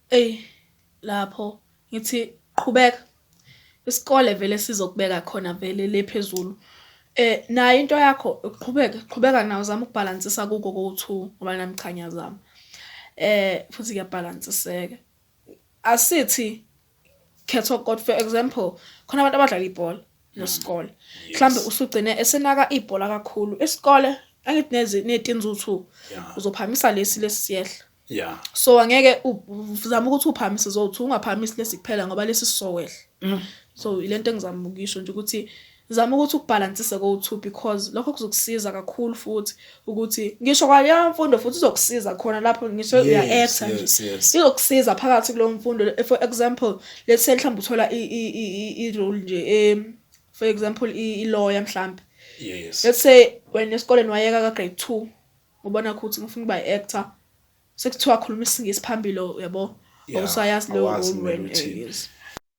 Eyi lapho ngithi qhubeka isikole vele sizokubeka khona vele le phezulu eh nayo into yakho uqhubeke qhubeka nawo zama ukubhalansisa kuko ko-two ngoba nami cha ngiyazama eh futhi kuyabhalansiseka asithi khetha okot for example khona abantu abadlala ibhola nesikole mhlambe usugcine esenaka ibhola kakhulu isikole angithi nezi netinzu 2 uzophamisa lesi lesi siyehla yeah so angeke uzama ukuthi uphamise zothi ungaphamisi lesi kuphela ngoba lesi sisowehla mm. so ilento engizama ukuyisho nje ukuthi Zama ukuthi ukubhalansise kowu-two because lokho kuzokusiza kakhulu futhi ukuthi ngisho kwaleyo mfundo futhi izokusiza khona lapho ngisho Yes, uya-actor nje yes, yes. izokusiza phakathi kuleyo mfundo le- for example let's say mhlawumbe uthola i- i- i- i- i-role nje em, for example i- i-lawyer mhlawumbe Yes. let's say wena esikoleni wayeka ka-grade two ubona ukuthi ngifuna ukuba i-actor sekuthiwa khuluma isingisi phambili uyabo Awusayazi leyo Awazi role kumele wena, eh, uthini. yes.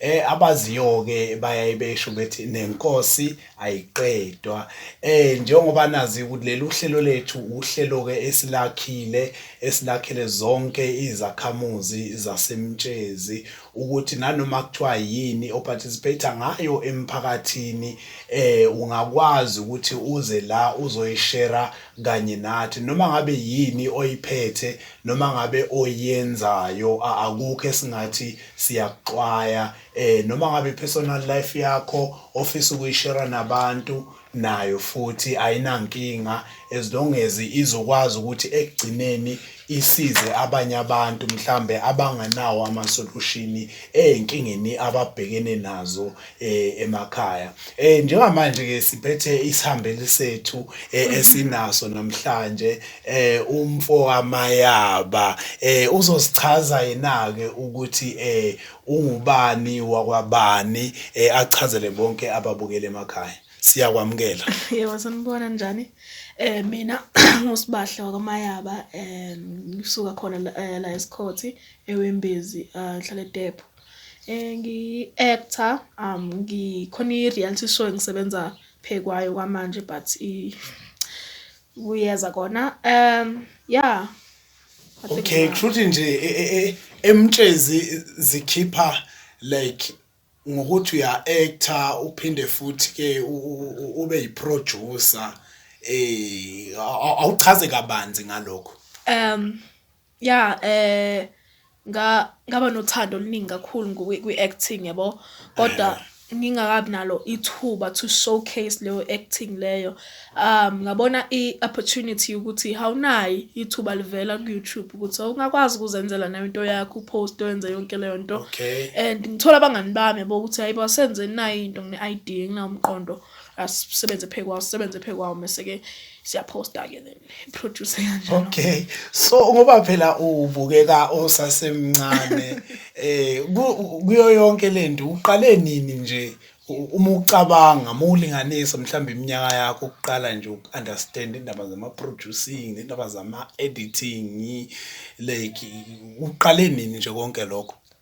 eh abaziyo ke bayaye besho bethi nenkosi ayiqedwa eh njengoba nazi ukuthi leli uhlelo lethu uhlelo ke esilakhile esilakhele zonke izakhamuzi zasemtshezi ukuthi nanoma kuthiwa yini oparticipate ngayo emphakathini eh ungakwazi ukuthi uze la uzoyishera kanye nathi noma ngabe yini oyiphethe noma ngabe oyenzayo akukho esingathi siyakuxwaya eh noma ngabe personal life yakho ofisa ukuyishare nabantu nayo futhi ayinankinga as long as izokwazi ukuthi ekugcineni isize abanye abantu mhlambe abanganawo ama solution ezinkingeni ababhekene nazo eh emakhaya eh njengamanje ke siphethe isihambeli sethu eh, esinaso namhlanje eh umfo wamayaba eh uzosichaza yena ke ukuthi eh ungubani wakwabani eh achazele bonke ababukele emakhaya siyakwamukela yebo sanibona njani eh mina ngusibahla wakamayaba eh ngisuka khona la eh, la esikhothi ewembezi eh, ngihlala edepo Eh ngi-actor um ngikhona i-reality show engisebenza phe kwayo kwamanje but kuyeza kona um ya okay kushuthi nje e, e, e, emtshezi zikhipha like ngokuthi uya actor uphinde futhi ke ube yiproducer eh awuchaze kabanzi ngalokho um ya eh nga ngaba nothando oluningi kakhulu ngokwi- kwi-acting yabo kodwa ngingakabi nalo ithuba to showcase leyo acting leyo um ngabona i-opportunity yokuthi hawunayi ithuba livela ku-youtube ukuthi awungakwazi ukuzenzela nayo into yakho upost wenze yonke leyo nto Okay. and ngithola abangani bami yabo ukuthi hayi basenze nayo into ngine-idea nginawumqondo asisebenze phekwawo sisebenze phekwawo mese-ke siyaphosta ke then producer kanjalo okay so ngoba phela ubukeka osasemncane eh kuyo yonke lento uqale nini nje uma ucabanga uma ulinganisa mhlawumbe iminyaka yakho ukuqala nje uku-understand indaba zama-producing nendaba zama-editing like uqale nini nje konke lokho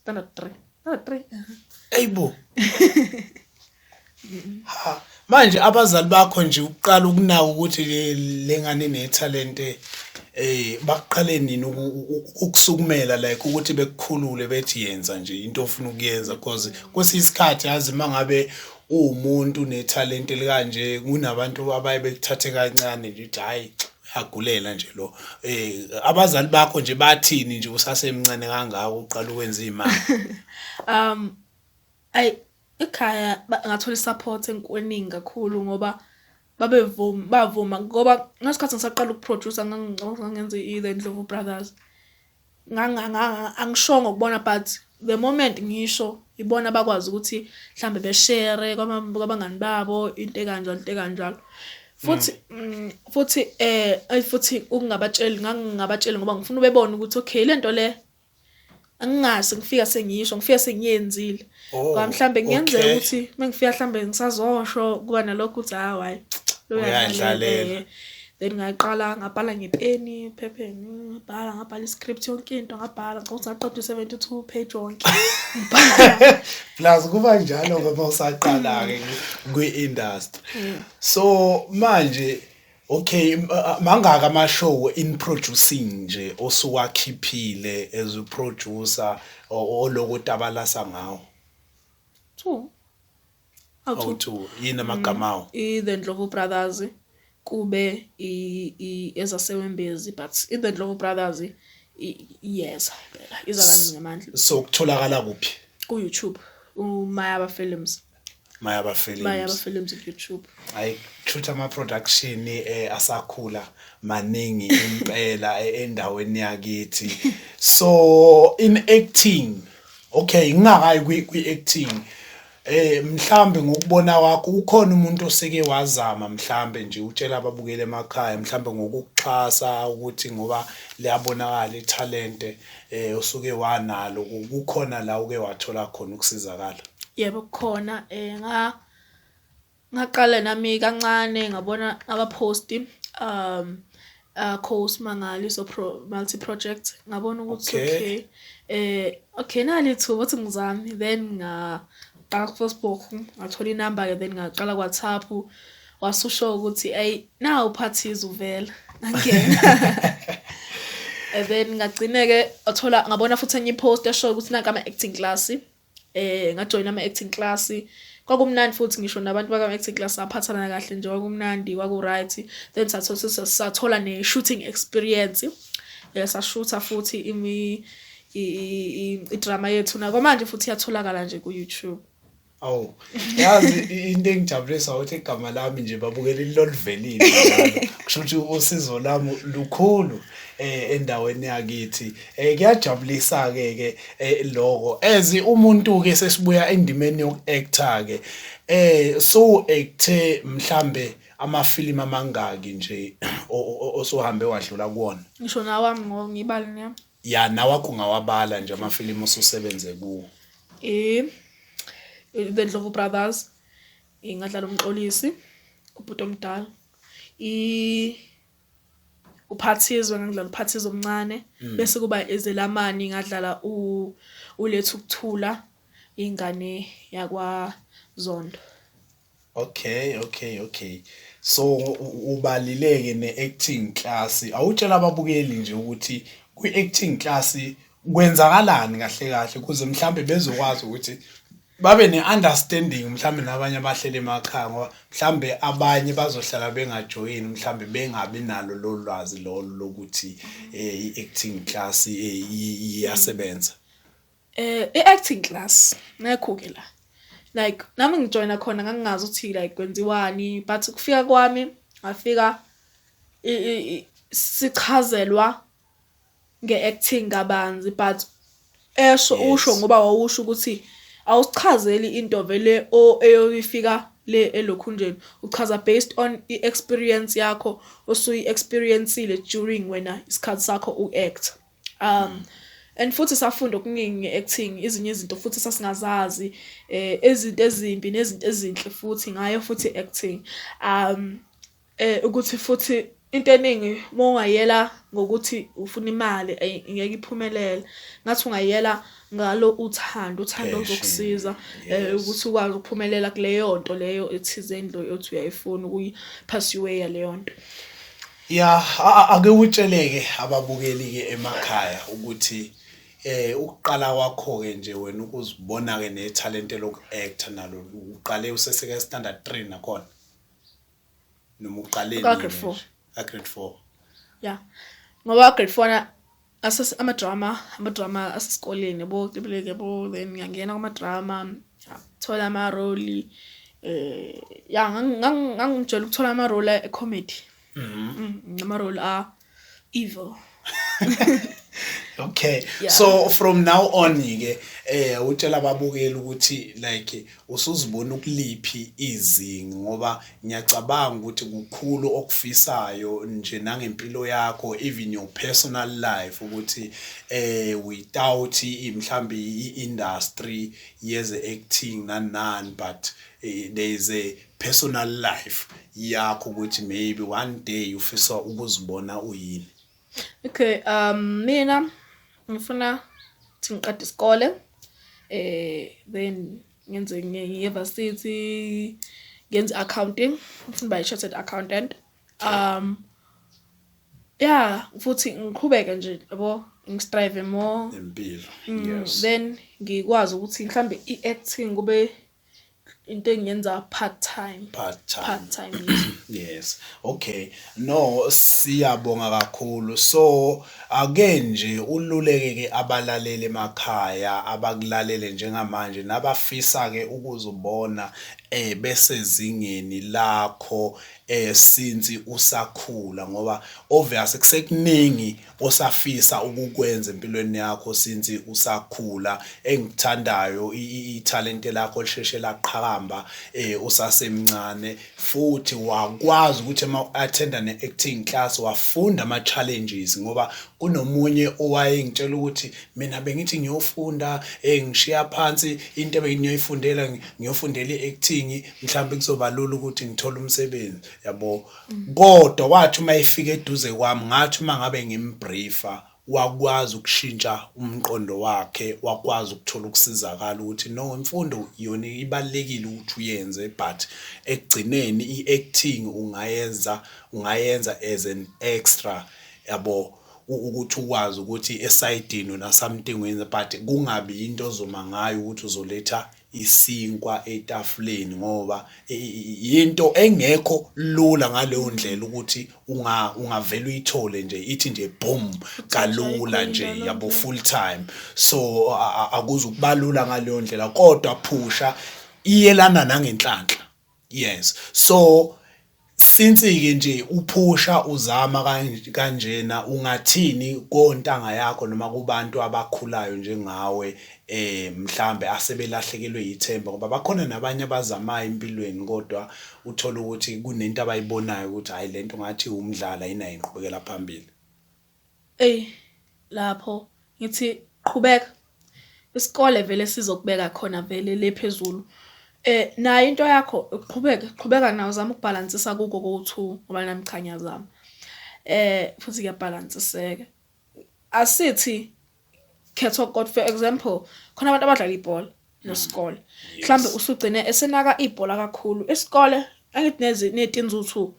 Standard 3. Standard 3. Eyibo. Ha, manje abazali bakho nje uqala ukunaka ukuthi le- le ngane nethalente eh baqale nini uku- u- ukusukumela like ukuthi bekukhulule bethi yenza nje into ofuna ukuyenza because kwesinye isikhathi yazi mangabe uwumuntu nethalente likanje kunabantu abaye bekuthathe kancane nje ukuthi hayi uyagulela nje lo eh abazali bakho nje bathini nje usasemncane kangaka uqala ukwenza imali um ay ekhaya ngathola support enkweningi kakhulu ngoba babevuma bavuma ngoba ngesikhathi ngisaqala ukuproducer ngangenza i-the ndlovu brothers angishongo kubona but the moment ngisho ibona bakwazi ukuthi mhlambe beshare kwabangani babo into ekanjalo into ekanjalo futhi mm. Mm, futhi eh ay futhi ukungabatsheli ngangingabatsheli ngoba ngifuna ubebone ukuthi okay lento le angingazi ngifika sengiyisho ngifika sengiyenzile Oh, Ngoba mhlambe kungenzeka okay. ukuthi mengifika mhlambe ngisazosho kuba nalokho ukuthi hayi hayi lo Uyayidlalela. uyadlalela. Then ngaqala ngabhala ngepeni, phepheni, ngabhala ngabhala i-script yonke into ngabhala ngicela ukuthi ngaqeda u-72 page wonke. Ngibhala. plus kuba njalo ngoba usaqala-ke kwi-industry so manje Okay mangaka ama show in producing nje osuwakhiphile as a producer oloko tabalasa ngawo two awu two yini amagama awo mm, i the Ndlovu brothers kube i ezasewembezi but i the Ndlovu brothers yes phela iza kanzi ngamandla so kutholakala kuphi ku YouTube umayaba films Mayaba Films. Mayaba Films on YouTube. Hayi shutha ama production eh asakhula maningi impela eh, endaweni yakithi. So in acting okay ngingakayi kwi, kwi acting eh mhlambe ngokubona wakho ukhona umuntu oseke wazama mhlambe nje utshela ababukele emakhaya mhlambe ngokuxhasa ukuthi ngoba liyabonakala italente eh usuke wanalo ku- kukhona la uke wathola khona ukusizakala Yebo kukhona eh nga ngaqala nami kancane ngabona aba post um uh course mangali so pro multi project ngabona ukuthi Okay. okay eh okay nali thu ukuthi ngizami then nga qala ku Facebook ngathola inamba ke then ngaqala ku WhatsApp wasusho ukuthi ayi nawu phathiza uvela angena and then ngagcineke wathola ngabona futhi enye post esho ukuthi nanka ama acting class eh ngajoin ama acting class kwakumnandi futhi ngisho nabantu baka acting class saphathana kahle nje kwakumnandi kwaku right then sathola sathola ne shooting experience yasashutha eh, futhi imi i drama yethu na kwamanje futhi yatholakala nje ku YouTube Awu. Yazi into engijabulisa ukuthi igama lami nje babukela ilolivelile njalo. Kusho ukuthi usizo lami lukhulu eh endaweni yakithi. Eh kuyajabulisa ke ke eh, lokho. As umuntu ke sesibuya endimeni yokuactor ke. Eh so acte mhlambe amafilimu amangaki nje osuhambe wadlula kuwona? Ngisho nawami ngibali nami. ya nawakho ungawabala nje amafilimu osusebenze kuwo um the ndlovu brothers ingadlala umxolisi ubhuti omdala uphathizwe ngangidlala uphathizwe omncane mm. bese kuba ezelamani ngadlala uletha ukuthula ingane yakwa Zondo Okay, okay, okay. So ubalileke ne-acting class. Awutshela ababukeli nje ukuthi kwi-acting class kwenzakalani kahle kahle ukuze mhlambe bezokwazi ukuthi babe ne-understanding mhlambe nabanye abahleli emakhaya ngoba mhlambe abanye bazohlala bengajoyini mhlambe bengabi nalo lolu lwazi lolo lokuthi um i-acting class eh, iyasebenza Eh i-acting class ngekho-ke la. Like nami ngijoyina khona ngangingazi ukuthi like kwenziwani but ukufika kwami ngafika sichazelwa nge-acting kabanzi but esho usho ngoba wawusho ukuthi awusichazeli into vele o eyoyifika le elokhunjeni uchaza based on i-experience yakho osuyi-experiencile during wena isikhathi sakho u-act um mm. and futhi safunda okuningi acting izinye izinto futhi sasingazazi eh izinto ezimbi nezinto ezinhle futhi ngayo futhi acting um eh ukuthi futhi into eningi uma ungayela ngokuthi ufuna imali ngeke iphumelele ngathi ungayela ngalo uthando uthando ozokusiza eh, ukuthi ukwazi ukuphumelela kuleyo nto leyo ethizeni lo othi uyayifuna ukuyi pass your way leyo nto Ya ake utsheleke ababukeli ke emakhaya ukuthi eh ukuqala kwakho ke nje wena ukuzibona ke nethalente loku actor nalo uqale useseke standard 3 nakhona noma uqale nini ka grade 4 ya ngoba grade 4 Asas ama drama, ama drama asesikoleni yabo, kibeleke yabo, then ngiyangena kuma drama, thola ama role eh ya ngangijela ukuthola ama role e comedy. Mhm. Mm, ama role a evil. okay yeah. so from now on ke eh utshela ababukeli ukuthi like usuzibona ukuliphi izinga ngoba ngiyacabanga ukuthi kukhulu okufisayo nje nangempilo yakho even your personal life ukuthi eh without mhlambe i-industry yeze acting nanan but eh, there is a personal life yakho ukuthi maybe one day ufisa ukuzibona uyini Okay, um mina ngifuna ukuthi ngiqede isikole eh then ngenze ngiyevarsity ngenze accounting ngifuna ba chartered accountant um yeah futhi ngiqhubeke nje yabo ngistrive more impilo mm, yes then ngikwazi ukuthi mhlambe iacting kube into engiyenza part time part time, part time yes okay no siyabonga kakhulu so ake nje ululeke ke abalaleli emakhaya abakulalele njengamanje nabafisa ke ukuzubona eh besezingeni lakho eh since usakhula ngoba obvious kusekuningi osafisa ukukwenza empilweni yakho since usakhula engithandayo ithalente lakho lisheshe laqhakamba eh usasemncane futhi wakwazi ukuthi uma attenda ne acting class wafunda ama challenges ngoba kunomunye owayengitshela ukuthi mina bengithi ngiyofunda eh ngishiya phansi into ebengiyoyifundela ngiyofundela iacting mhlawumbe kuzobalula ukuthi ngithole umsebenzi yabo kodwa wathi uma efika eduze kwami ngathi uma ngabe ngimbriefa wakwazi ukushintsha umqondo wakhe wakwazi ukuthola ukusizakala ukuthi no imfundo yona ibalekile ukuthi uyenze but ekugcineni iacting ungayenza ungayenza as an extra yabo ukuthi ukwazi ukuthi esayidini nasamtingweni but kungabi into ozoma ngayo ukuthi uzoletha isinkwa etafuleni ngoba yinto engekho lula ngaleyo ndlela ukuthi unga ungavela uyithole nje ithi nje boom kalula nje yabo full time so akuzukubalula ngaleyo ndlela kodwa phusha iyelana nangenhlanhla yes so since-ke nje uphusha uzama kanjena ungathini kontanga yakho noma kubantu abakhulayo njengawe eh mhlambe asebelahlekelwe yithemba ngoba bakhona nabanye abazamayo empilweni kodwa uthola ukuthi kunento abayibonayo ukuthi hayi lento ngathi umdlalo ayinayo inqubekela phambili Ey lapho ngithi qhubeka isikole vele sizokubeka khona vele le phezulu eh nayo into yakho uqhubeke qhubeka nawo zama ukubhalansisa kuko ko2 ngoba nami cha ngiyazama eh futhi kuyabhalansiseka asithi khetha okot for example khona abantu abadlala ibhola nesikole mm. mhlambe usugcine esenaka ibhola kakhulu isikole angithi nezi netinzuthu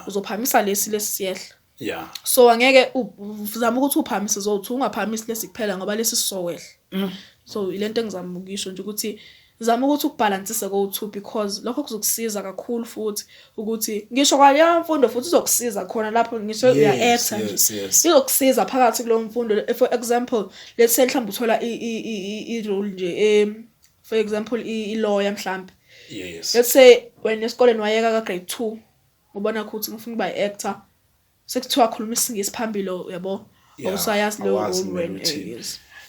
uzophamisa lesi lesiyehla yeah so angeke uzama ukuthi uphamise zothi ungaphamisi lesi kuphela ngoba lesi sisowehla mm. so ilento engizama ukuyisho nje ukuthi Zama ukuthi ukubhalansise kowu-two because lokho kuzokusiza kakhulu futhi ukuthi ngisho kwaleyo mfundo futhi izokusiza khona lapho ngisho Yes, uya-actor nje yes, yes. izokusiza phakathi kuleyo mfundo Le- for example let's say mhlawumbe uthola i- i- i- i- i-role nje em, for example i- i-lawyer mhlawumbe Yes. let's say wena esikoleni wayeka ka-grade two ubona ukuthi ngifuna ukuba i-actor sekuthiwa akhuluma isingisi phambili yabo awusayazi leyo role wena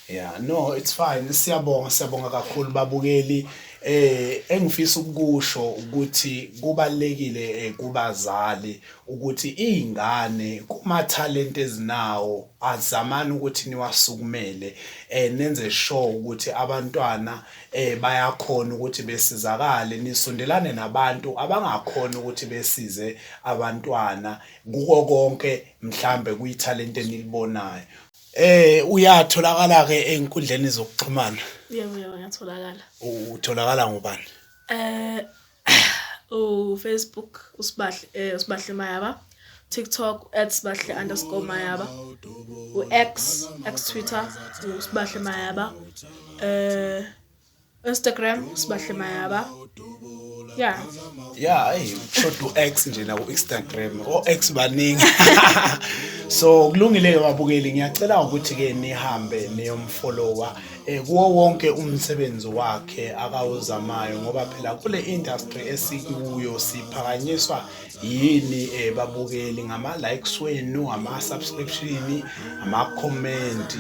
yeah no it's fine siyabonga siyabonga kakhulu babukeli eh engifisa ukusho ukuthi kubalekile eh, kubazali ukuthi izingane kuma talent ezinawo azamani ukuthi niwasukumele eh nenze sure ukuthi abantwana eh bayakhona ukuthi besizakale nisondelane nabantu abangakhona ukuthi besize abantwana kuko konke mhlambe kuyitalent enilibonayo eh uyatholakala ke enkundleni zokuxhumana yebo yebo ngiyatholakala utholakala ngubani eh ufacebook usibahle eh, usibahle mayaba tiktok @sibahle underscore mayaba u-x x twitter usibahle mayaba eh instagram usibahle mayaba yeah yeah ayi shoda u-x nje naku instagram o-x baningi so kulungile-ke babukeli ngiyacela ukuthi-ke nihambe niyomfollowa eh kuwo wonke umsebenzi wakhe akawuzamayo ngoba phela kule industry esikuyo siphakanyiswa yini eh babukeli ngama likes wenu ama subscription ama comment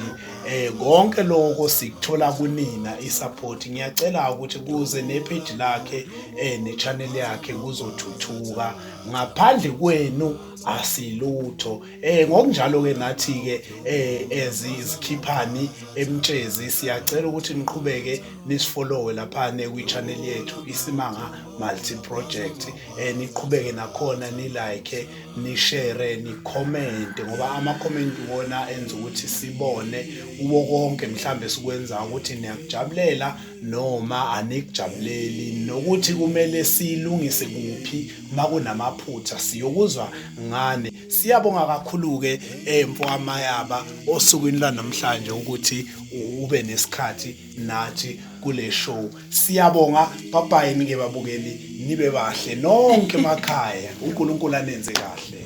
eh konke lokho sikuthola kunina i support ngiyacela ukuthi kuze ne page lakhe eh ne channel yakhe kuzothuthuka ngaphandle kwenu asilutho Eh ngokunjalo ke nathi ke eh as izikhiphani emtshezi siyacela ukuthi niqhubeke nisifollowe lapha ne kwi channel yethu isimanga multi project eh niqhubeke nakhona ni like ni share ni comment ngoba ama comment wona enza ukuthi sibone uwo konke mhlambe sikwenza ukuthi niyakujabulela noma anikujabuleli nokuthi kumele silungise kuphi makunamaphutha siyokuzwa ngani Siyabonga kakhulu-ke eh, mfokamayaba osukwini lwanamhlanje ukuthi ube nesikhathi nathi kule show. Siyabonga babayi nike babukeli nibe bahle nonke emakhaya. UNkulunkulu anenze kahle.